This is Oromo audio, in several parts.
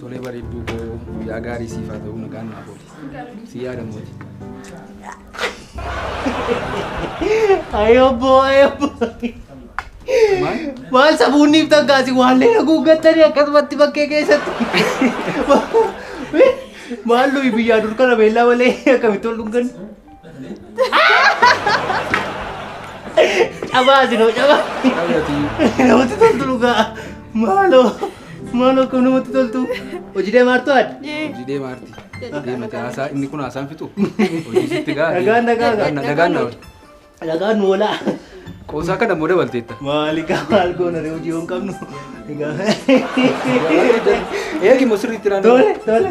Tolee bareedduu koo guyyaa gaarii siif haa ta'u nagaan naaf ooli. Si yaada mooti. Ayobbo, ayobbo. Waan safuunniif takkaasi waallee haguuggattanii akkasumatti bakkee keessatti. Maal nuyi biyyaa dur kana beellaa malee akkamitti ol dhungan? Cabaa asinoo cabaa. Namatti toltu dhugaa. Maaloo. Maaloo kun namatti toltu. Hojii deemaa jirtu adda. Hojii deemaa jirti. Deemate haasaa inni kun haasaan fixu. Hojii sitti gaa. Nagaan nagaa gaa. Nagaan na oolcha. Nagaan nu oolaa. Qoosaa kana immoo dabalteetta. Maali gaa maal goona ree hojii yoo hin qabnu. Eegi immoo sirriitti naannoo. Tole tole.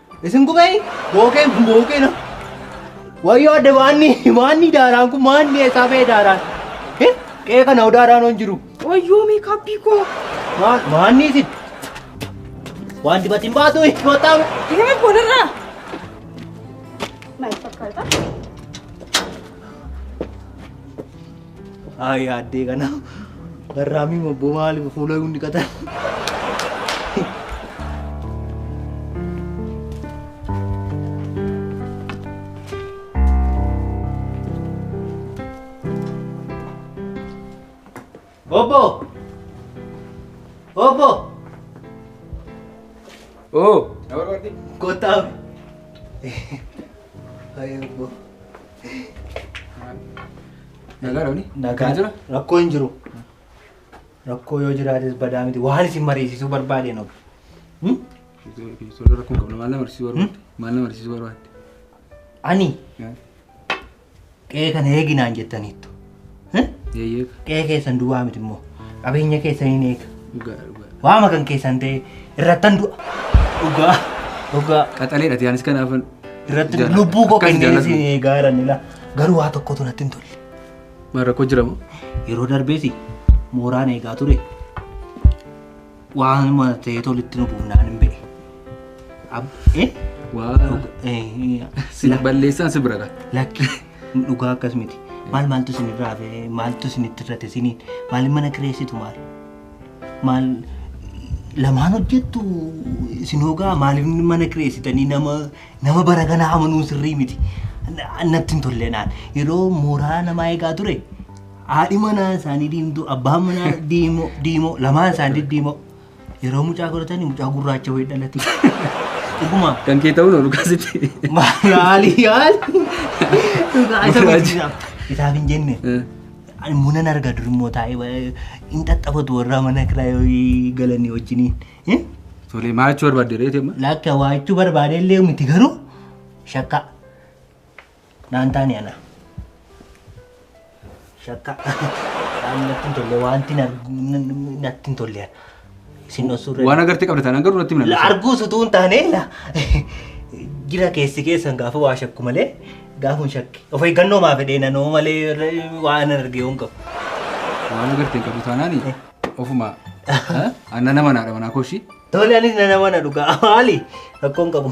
Isin gubee bookeen kun bookeen wayyoo adda maanni maanni daaraan kun maanni eessaa ba'e daaraan qe'ee kana hoo daaraan hoon jiru Wayyoo meekaappii koo. Maan- maanni isin waan dibati hin baatu goottaa Deema boonarraa. Maal fakkaata? Ay yaaddee kana garraamii mobboo maaliif fuula hin dhiqatan. Obbo! Obbo! Oo! Kottaa. Ay obbo. Nagaa dha wani? Nagaa jira? Rakkoo hin jiru. Rakkoo yoo jiraates badaa miti. Waan isin mariisisuu barbaadeen ofi. Ijoollee rakkoo hin qabne maal nama barsiisuu barbaadde? Maal nama barsiisuu barbaadde? Ani qe'ee kana eeginaan jettaniittu. Eeyyee. Qe'ee keessan duwwaa miti immoo qabeenya keessan hin eega. Dhugaa dhugaa. Waama kan keessan ta'e irrattan du'a. Dhugaa dhugaa Qaxaleedha tiyaanis kanaafan. irratti Jaalladha. lubbuu koo Akkasi kennee jaalladhu. isin eegaa jiran ila. Garuu waa tokkotu natti hin tolle. Maal rakkoo jira moo? Yeroo darbees mooraan eegaa ture. Waan mana ta'ee tolitti nu buufnaan hin be'e. Ab- eh? Waa. Eh, eh, Sin balleessaan si bira gaa. Lakki. Dhugaa akkas miti. Maal maaltu isin irraa hafe maaltu isin itti irrate isiniin maal mana kireessitu maal maal lamaan hojjettu isin hoogaa maaliif mana kireessitanii nama nama bara kana amanuun sirrii miti. Na- Natti hin tolle naan yeroo mooraa namaa eegaa ture haadhi manaa isaanii diimtuu abbaan manaa diimoo diimoo lamaan isaanii diimoo Yeroo mucaa godhatani mucaa gurraacha wayii dhalate. Dhuguma. Kan kee ta'uu nu kaasite. Maali yaal? Dhugaa isa guddisa. Isaaf hin jenne. Ani munan arga dur immoo taa'ee hin xaxxafatu warra mana kiraa yoo galanii wajjiniin. Eh? Tole maal jechuu barbaadde reete amma? Lakka waa jechuu barbaadee illee miti garuu shakkaa. Naan taane ana. Shakka. Waan natti hin tolle wanti na- na- na- natti hin tolle. Sin osoo irra. Waan agartee qabda taanaan garuu natti himna. La arguus utuu hin taane la. Jira keessi keessan gaafa waa shakku malee gaafa hin shakke. Of eeggannoo maa fedhee nanoo malee irra- waan arge yoon qabu. Waan agartee hin qabdu taanaan ofuma. Anna nama naadha manaa kooshii. Tole anis na nama na dhugaa maali rakkoon qabu.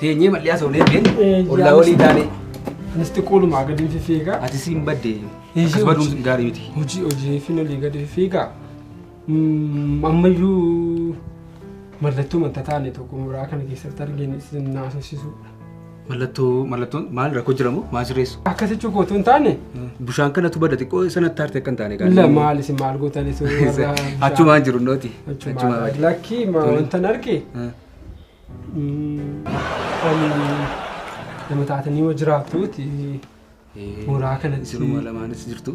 Teenyee bal'ee haasofnee beeknu Eh, ollaa yaa, olii taanee Anis xiqqoodhumaa gadi hin fifiigaa. ati siin badde Eeyyee, akkas baduun hojii. gaarii miti. Hojii hojii fi olii gadi fifiigaa. Mm, Ammayyuu mallattoo wanta taane tokko muraa kana keessatti arginu isin naasofsiisuudha. Mallattoo mallattoon maal rakkoo jiramoo maal sirreessu? Akka sichuu kootu hin taane Bishaan kanatu bada xiqqoo sanatti haarte akka hin taane gaarii. la maal isin maal gootanii sun warra Achumaan jiru nooti. Achumaan. Lakkii ma Tole. wanta hin arge Eh. Nama taatanii yoo jiraattuuti mooraa kana Jiruma lamaanis jirtu.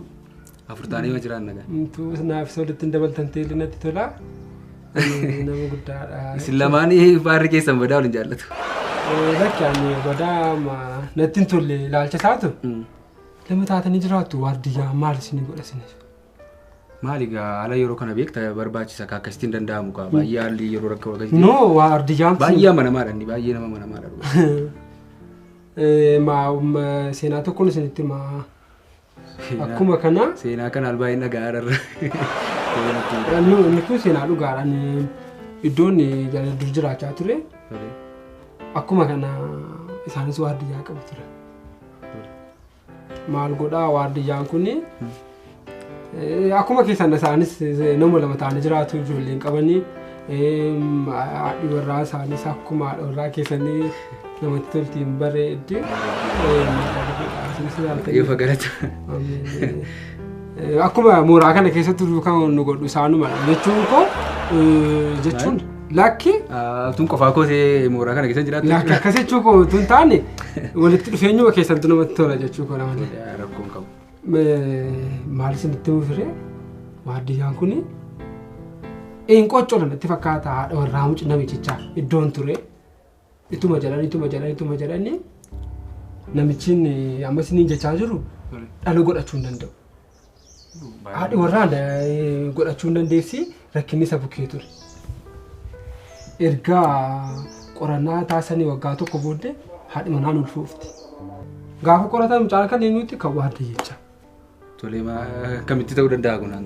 Afur taanee yoo jiraan nagaa. Intuu naafis walitti hin dabaltan teelli natti tola. Nama guddaadha. Isin lamaanii baarri keessan badaa waliin jaallatu. Lakki ani badaa ma natti hin tolle ilaalcha isaatu. Nama taatanii jiraattu waardiyyaa maal isin godha isiniif? Maali gaa haala yeroo kana beekta barbaachisa kaa akkasitti hin danda'amu kaa baay'ee haalli yeroo rakkoo akkasitti No, waa ardi jaamti. baay'ee amanamaadha inni baay'ee nama amanamaadha dhugaa. Eh, ma, um, seenaa tokkoon isinitti ma. Akkuma kana seenaa kana albaa hin dhaga'aa irra. nu- inni kun seenaa dhugaadhaan iddoon jala dur jiraachaa ture. Akkuma kana isaanis waa adda yaa qabu ture. maal godhaa waardiyyaan kun akkuma keessan isaanis nama lama ta'anii jiraatu ijoollee hin qabanii haadhi warraa isaanis akkuma haadha warraa keessanii namatti tolti hin bareeddi. Yoo fagalata. Akkuma mooraa kana keessatti kan nu godhu isaanuma jechuun koo jechuun Lakki Tun qofaa kootee mooraa kana keessa jiraatu. lakki akkas jechuu koo tun taane walitti dhufeenyuma keessantu namatti tola jechuu koo namatti. Rakkoon qabu. Maal isinitti mufire waardiyaan kun hin qoccolan itti fakkaata haadha warraa mucaa namichichaa iddoon ture. Ituma jedhan ituma jedhan ituma jedhanne namichiin ammas inni jechaa jiru dhala godhachuu hin danda'u. Haadhi warraa godhachuu hin dandeessi rakkinni isa bukkee ture. Erga qorannaa taasisanii waggaa tokko booddee haadhi manaan ulfoofti. Gaafa qoratan mucaan kan eenyutti kan waadde jecha. Tolee maa akkamitti ta'uu danda'a kunaan?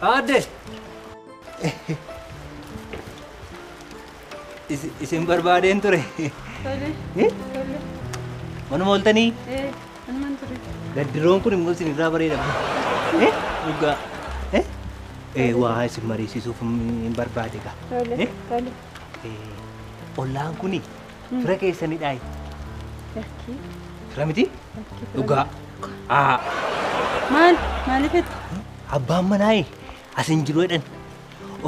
Aadde! Is- Isin barbaadeen ture. Tole, Eh? tole. Manuma ooltanii Eh, anumaan ture. gaddiroon kun immoo isin irraa bareeda. Eh? Dhugaa. Eh? Eh, waa isin mariisisuuf hin barbaade gaa. Tole, Eh? tole. Ollaan kun fira keessanidhaayi. Lakkii. Fira miti? Lakkii. Dhugaa. Aa. Maal? Maaliif itti? Abbaan manaayi asin jiru jedhan.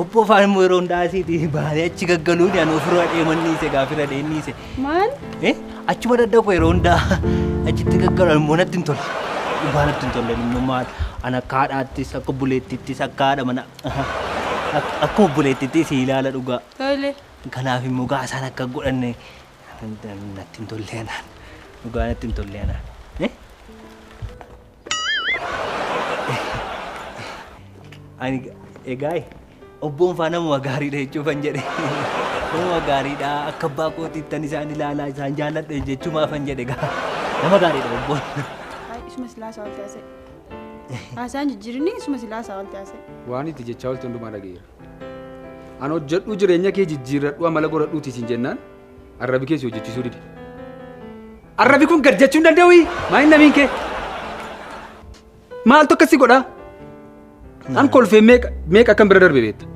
Obbo Afaan immoo yeroo hundaa asiiti baanee achi gaggaluun ani ofirra deeman dhiise gaafirra deeman dhiise. Maal? Eh achuma dadda koo yeroo hundaa achitti gaggalu immoo natti hin tolle. Dhugaa natti hin tolle immoo maal ana akka haadhaattis akka buleettittis akka haadha mana Akka obboleettiitti si ilaala dhugaa. Tole. Kanaaf immoo gaa isaan akka godhanne natti hin tolle anaan. Dhugaa natti hin tolle anaan. Eh? Ani egaa obboon faa namuma gaariidha jechuufan jedhe. Namuma gaariidha akka abbaa kootiittan isaan ilaalaa isaan jaalladhe jechuumaafan jedhe gaa. Nama gaariidha obboon. Ay, isuma silaa sa'aatii haasa'e. Haasaan jijjiirinni isuma silaa haasaa walti haasa'e. Waan itti jechaa walti hundumaa dhageera. An hojjedhuu jireenya kee jijjiirradhu amala godhadhuuti isin jennaan arrabi kee si hojjechiisuu dide. Arrabi kun gad jechuu hin danda'u maa hin namiin kee. Maaltu akkasii godhaa? An kolfee meeqa meeqa akkan bira darbe beekta.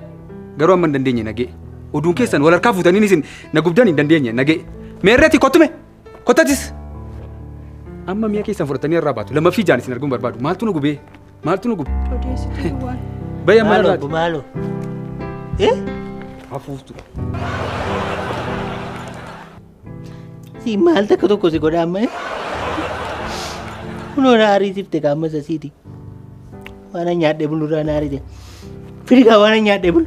Garuu amma hin dandeenye nagee. Oduun keessan wal harkaa fuutaniin isin na gubdan hin dandeenye nagee. Meerreeti kottume. Kottatis! Amma mi'a keessan fudhatanii irraa baatu. Lammaffii ijaan isin arguun barbaadu. Maaltu nu gubee? Maaltu nu gube? Odeessituu duwwaan. Bayya mana Maaloo irraati. maaloo. Eh? Hafuuftu. Si maal takka tokko si godha amma. eh? Kunoo na ariitifte ka amma sasiiti. Waan an nyaadhee bulu irraa na ariite. Firigaa waan an nyaadhee bulu.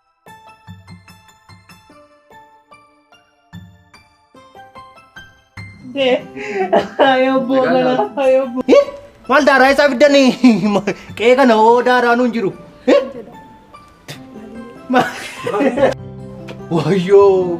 Maal daaraa isaa fiddan qe'ee kana hoo daaraa nuun jiru. Wayyoo.